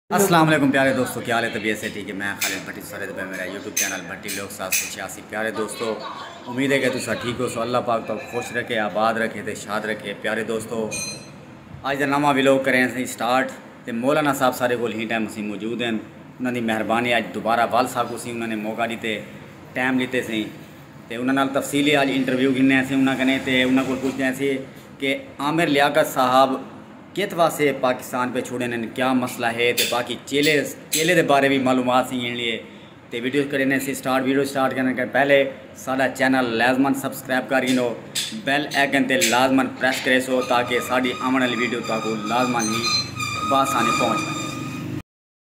السلام علیکم پیارے دوستو کیا لے طبیعت سے ٹھیک ہے میں خالد بھٹی سارے دبے میرا یوٹیوب چینل بھٹی لوگ سات سو چھیاسی پیارے دوستو امید ہے کہ تسا ٹھیک ہو سو اللہ پاک تو خوش رکھے آباد رکھے تے شاد رکھے پیارے دوستو آج دا نواں ویلوگ کریں سی سٹارٹ تے مولانا صاحب سارے کول ہی ٹائم اسی موجود ہیں انہاں دی مہربانی آج دوبارہ وال صاحب کو سی انہاں نے موقع دیتے ٹائم لیتے سی تے انہاں نال تفصیلی آج انٹرویو گھنے سی انہاں کنے تے انہاں کول پوچھتے ہیں سی کہ عامر لیاقت صاحب کیت واسے پاکستان پے چھوڑے نن کیا مسئلہ ہے تے باقی چیلے چیلے دے بارے بھی معلومات سی گھن لیے تے ویڈیو کرے نے سی سٹارٹ ویڈیو سٹارٹ کرنے کر پہلے ساڈا چینل لازمن سبسکرائب کر گھنو بیل ایکن تے لازمن پریس کرے سو تاکہ ساڈی آون والی ویڈیو تاکو لازمن ہی باسانی پہنچ پائے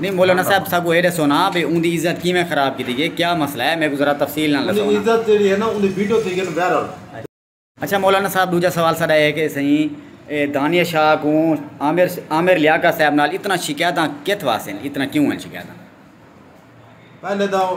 نی مولانا صاحب ساگوں اے ڈسو نا بھئی اوندی عزت کیویں خراب کیتی گئی کیا مسئلہ ہے میکوں ذرا تفصیل نال ڈسو نا۔ عزت جیڑی ہے نا اوندی ویڈیو تھی گن وائرل۔ اچھا مولانا صاحب ڈوجا سوال ساڈا اے ہے کہ سئیں اے دانیہ شاہ کوں عامر عامر لیاقت صاحب نال اتنا شکایتاں کتھ واسطے ہن اتنا کیوں ہن شکایتاں؟ پہلے تاں او۔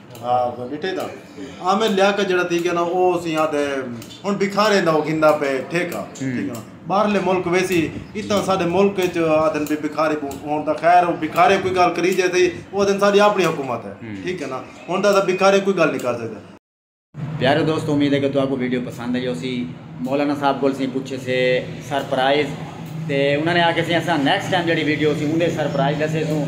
ڈٹھے تاں عامر لیا کا جڑا تھی گیا نا او سی ہاں دے ہن بکھارے دا او گھندا پے ٹھیکا باہر لے ملک ویسی اتنا ساڈے ملک اچ آدن بھی بکھارے بو ہن دا خیر او بکھارے کوئی گال کری جے تھی او دن ساڈی اپنی حکومت ہے ٹھیک ہے نا ہن دا بکھارے کوئی گال نہیں کر سکتے۔ پیارے دوستو امید ہے کہ تو آپ کو ویڈیو پسند آئی ہو سی۔ مولانا صاحب کول سیں پچھے سے سرپرائز تے انہاں نے آکھے سے اساں نیکسٹ ٹائم جیڑھی ویڈیو ہوسی اوندے سرپرائز ڈسے سوں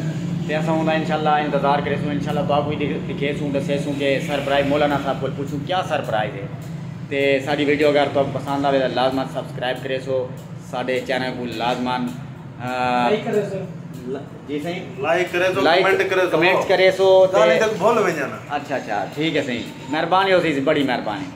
تے اساں اوندا انشاءاللہ انتظار کرے سوں انشاءاللہ تہاکوں وی دکھے سوں ڈسے سوں کہ سرپرائز مولانا صاحب کول پچھوں کیا سرپرائز ہے تے ساڈی ویڈیو اگر تہاکوں پسند آوے تاں لازما سبسکرائب کرے سو ساڈے چینل کوں لازما لائک کرے سو جی سائیں لائک کرے سو کمنٹ کرے سو کمنٹ کرے سو تے گالیں تک بھول ونجن اچھا اچھا ٹھیک ہے سائیں مہربانی ہوسی بڑی مہربانی